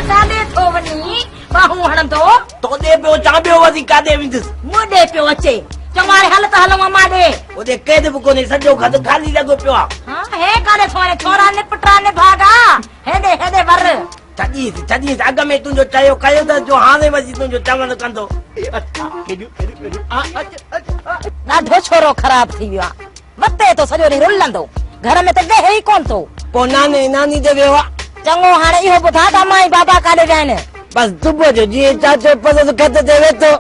ڪاڏي ٿو وڃين ٻانهون هڻندو. توڏي پيو اچان ٻيو وزي ڪاڏي ويندس. مون ڏي پيو اچي. چوماري هل ته هلون امان ڏي. اوڏي قيد به ڪونهي سڄو گهد خالي لڳو پيو آ. هان هي ڪاڏي ٿو وڃين ڇورا نپٽا نڀاڳا هيڏي هيڏي ور. ڇڏيس ڇڏيس اڳ ۾ تنهنجو چيو ڪيو اٿس جو هاڻي وزي تنهنجو چوڻ ڪندو. ڏاڍو ڇورو خراب ٿي ويو آ. متي تو سڄو ڏينهن رلندو. گهر ۾ ته گهه ئي ڪونه ٿو. پوء ناني ناني ڏي ويو آ. چڱو هاڻي اهو ٻڌاء ته امان ۽ بابا ڪاڏي ويا آهن. بس صبح جو جيئن چاچو پسند کٽ تي ويٺو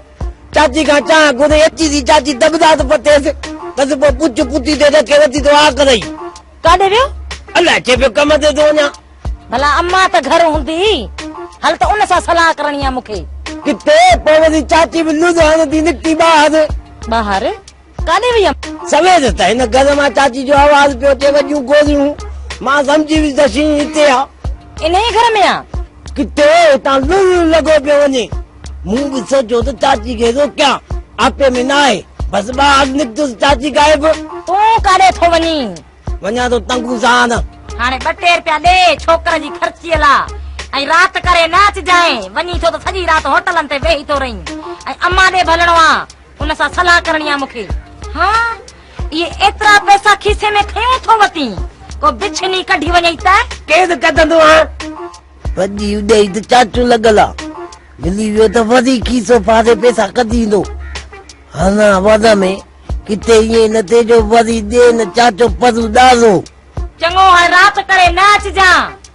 چاچي کان چانهه گهري اچي ٿي چاچي دٻداس پٽيس تس پوء پڇ پتي تي رکي وتي تو آ ڪرئي. ڪاڏي ويو؟ الاء چي پيو ڪم تي ٿو وڃان. ڀلا امان ته گهر هوندي. هل ته ان سان صلاح ڪرڻي آ مون کي. ڪٿي؟ پوء وري چاچي به لڙ هڻندي نڪتي ٻاهر. ٻاهر؟ ڪاڏي وئي آهي؟ سوير ته هن گهر مان چاچي جو آواز پيو اچي وڏيون گوريون. مان سمجهي ويس ته شينهن هتي آ. انهيء گهر ۾ آ. ڪٿي هتان لڙ لڙ لڳو پيو وڃي. مون به سوچيو ته چاچي کي روڪيان. آپي ۾ ناهي. بس ٻاهر نڪتس چاچي غائب. تون ڪاڏي ٿو وڃين؟ وڃان ٿو تنگو سان. هاڻي ٻه ٽي رپيا ڏي ڇوڪر جي خرچيء لا ۽ رات ڪري نه اچجانء. وڃين ٿو ته سڄي رات هوٽلن تي ويهي ٿو رهين ۽ امان ڏي به هلڻو آ. ان سان صلاح ڪرڻي آ مونکي. ها اهي ايترا پئسا کيسي ۾ کيون ٿو وتين. ڪو بڇني ڪڍي وڃئي ته. ڪير ڪڍندو ها. وڏي اڏيئي ته چاچو لڳل آ. ملي ويو ته وري کيسو ڦاڙي پئسا ڪڍي ايندو. هانا وضع ۾ ڪٿي ائين نه ٿئي جو وري ڏين چاچو پرو ڏارو. چڱو هاڻي رات ڪري نه اچجان.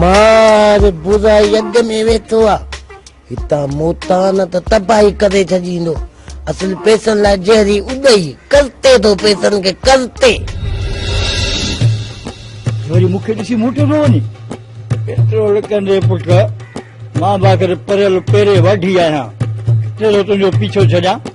مار بزائي اڳ ۾ ويٺو آ هتان موتان ته تباهي ڪري ڇڏيندو اصل پيسن لاء جهري اڏئي ڪرتي ٿو پيسن کي ڪرتي وري مون کي ڏسي موٽيو پيو وڃي پيٽرول ڪندي پٽ مان باخر پريل پيري واڍي آهيان ٽيلو تنهنجو پيڇو ڇڏيان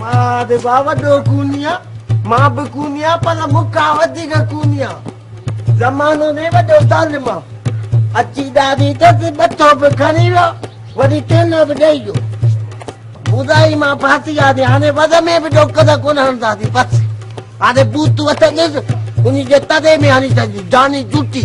مان به ڀاء وڏو ڪوني آ مان به ڪوني آ پر مون کان وڌيڪ ڪوني آ زمانو نه وڏو ظالم آ اچي ڏاڍي تس ٻٿو به کڻي ويا وري تين به ڏئي ويو ٻڌائي مان ڦاسي آ دي هاڻي وز ۾ به ڏوڪ ته ڪون هڻدا دي بس هاڻي بوتو اٿندس انهي جي تڏي ۾ هڻي ڇڏي جاني جوٽي